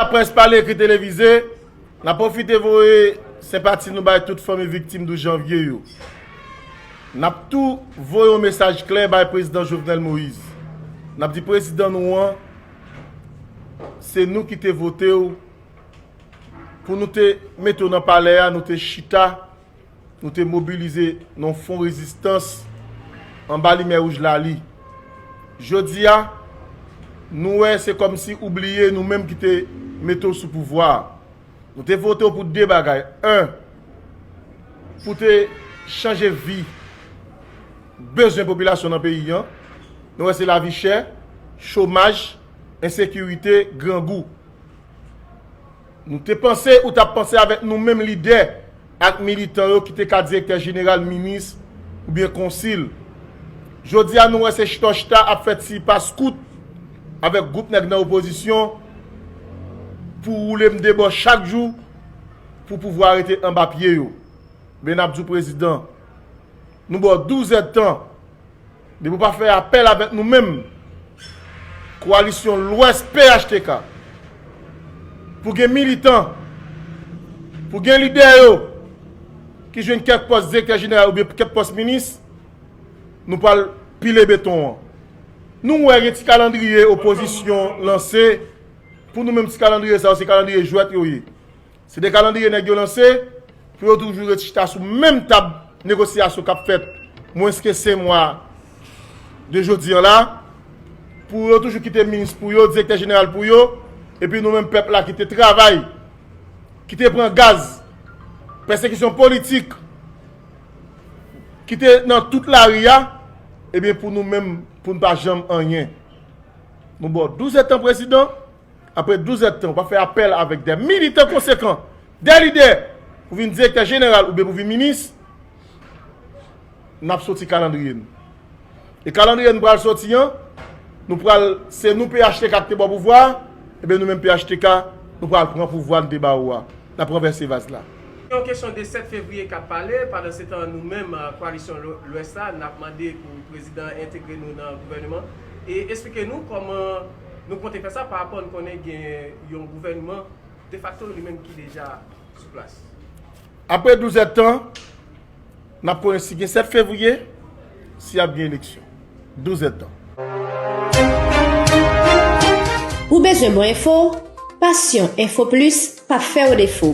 Laprès pale ekri televize, n ap pwofite voye senpati nou bay tout fanmi viktim 12 janvye yo. N ap tou voye yon mesaj klè bay Prezidan Jovenel Moïse. N ap di Prezidan nou an, se nou ki te vote w pou nou te mete w nan palè a, nou te chita, Nou te mobilize nan fon rezistans anba limyè wouj lali. Jodi a, nou wè se kòm si ou bliye nou menm ki te mete w sou pouvwa a. Nou te vote w pou de bagay, 1 pou te chanje vi bezwen popilasyon nan peyi an. Nou wè se lavi chè, chomaj, ensekirite, grangou. Nou te panse ou tap panse avèk nou menm lidè ak militan yo ki te ka direktè jeneral, minis oubyen konsil. Jodi a nou wè se chita chita ap fè ti pas kout avèk gwoup nèg nan opozisyon pou woule m debò chak jou pou pouvwa rete anba pye yo. Men nap di w prezidan, nou ba w 12 èd tan Depi w pa fè apèl avèk nou menm, Koalisyon Lwès phtk, pou gen militan, pou gen lidè yo ki jwenn kèk pòs direktè jeneral oubyen kèk pòs minis, nou pral pile beton an. Nou wè gen ti kalandriye opozisyon lanse, pou nou menm ti kalandriye sa yo se kalandriye jwèt yo ye. Se 2 kalandriye nèg yo lanse pou yo toujou ret chita sou menm tab negosyasyon k ap fèt mwens ke 5 mwa de jodi an la, pou yo toujou kite minis pou yo, direktè jeneral pou yo, epi nou menm pèp la ki te travay, ki te pran gaz, pèsekisyon politik, ki te nan tout lari a, ebyen pou nou menm pou nou pa janm anyen. Nou ba w 12 etan prezidan. Apre 12 èd tan, ou pa fè apèl avèk de militan konsekan, de lidè pou vin direktè jeneral oubyen pou vin minis, n ap soti kalandriye nou. E kalandriye nou pral soti an, nou pral, se nou phtk ki te ba w pouvwa a, enben nou menm phtk, nou pral pran pouvwa nou te ba ou a. N ap ranvèse vaz la. Se yon kesyon de 7 fevriye k ap pale. Pandansetan, nou menm koalisyon Lwès la, n ap mande pou prezidan an entegre nou nan gouvèneman e esplike nou kòman. Nou konte fè sa parapò n konnen gen yon gouvènman defakto li menm ki deja sou plas. Apre 12 èd tan, n ap konnen si gen 7 fevriye, si ap gen eleksyon. 12 èd tan. Ou bezwen bon enfo? Passion info plus pap fè w defo.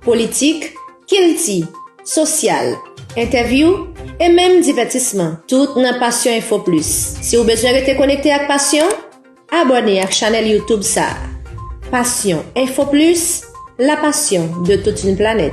Politik. kilti, sosyal, entèvyou e menm divètisman, tout nan Passion Info Plus. Si ou bezwen rete konekte ak Passion, abòne ak chanèl YouTube sa a. Passion Info Plus, la passion de toute une planète.